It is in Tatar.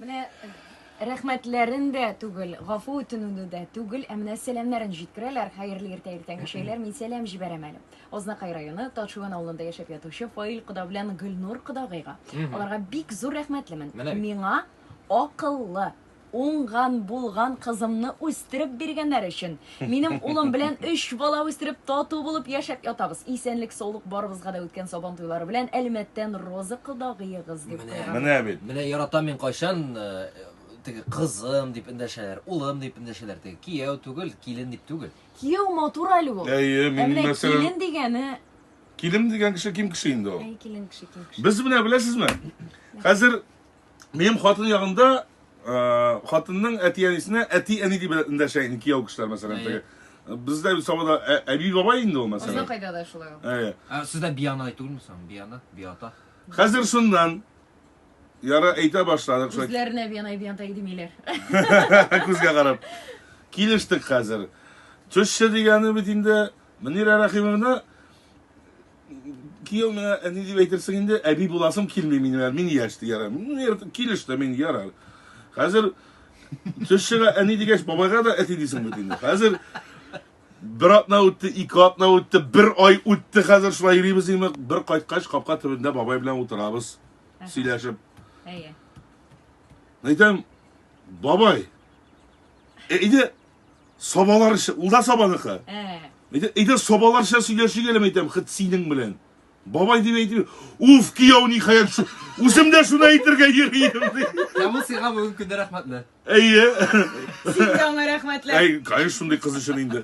Менә рәхмәтләрен дә түгел, гафу үтенүне дә түгел, ә менә сәламнәрен җиткерәләр. Хәерле иртә иртәнге чәйләр. Мин сәлам җибәрәм әле. Азнакай районы Ташуан авылында яшәп ятучы Фаил кода белән Гөлнур кодагыйга. Аларга бик зур рәхмәтлемен. Миңа акыллы, уңган, булган кызымны үстереп биргәннәр өчен. Минем улым белән өч бала үстереп, тату булып яшәп ятабыз. Исәнлек-саулык барыбызга да үткән Сабан туйлары белән Әлмәттән Роза кодагыегыз дип Менә. куйган. Менә бит. Менә яратам мин кайчан э, теге кызым дип эндәшәләр, улым дип эндәшәләр, теге кияү түгел, килен дип түгел. Кияү матур әле ул. Әйе, Ә мин менә мәсәлән, килен дигәне, килен дигән кеше ким кеше инде ул. әй килен кеше килен кеше. Без менә беләсезме? Хәзер Минем хатын ягында э, хатынның әти-әнисенә әти-әни дип эндәшә инде кияү кешеләр, мәсәлән, теге. Бездә бит Сабада ә- әби бабай инде ул, Безнең мәсәлән. кайда да шулай ул. Әйе. Ә сездә биянай түгелме соң? Биянай, биата. Хәзер шуннан яра әйтә башладык шулай Үзләренә биянай дигән тәги димиләр. күзгә карап. Килештек хәзер. Төшче дигәне бит инде Мөнирә Рәхимовна, кияү миңа әни дип әйтерсең инде, әби буласым килми минем әле, мин яшь дигән. Килеш тә мин ярар. Хәзер төш чыга әни дигәч, бабайга да әти дисең бит инде. Хәзер бер атна үтте, ике атна үтте, бер ай үтте, хәзер шулай йөрибез инде. Бер кайткач, капка төбендә бабай белән утырабыз, сөйләшеп. Әйе. Әйтәм, бабай, әйдә, Собаларча, ул да собаныкы. Ә. Әйтә, әйтә собаларча сөйләшик әле әйтәм, хит синең белән. Бабай дип әйтми. Уф, кияү ни хәер. Үзем дә шуны әйтергә йөрим. Ә бу сиңа бүген көндә рәхмәтле. Әйе. Сиңа рәхмәтле. Әй, конечно, шундый кыз өчен инде.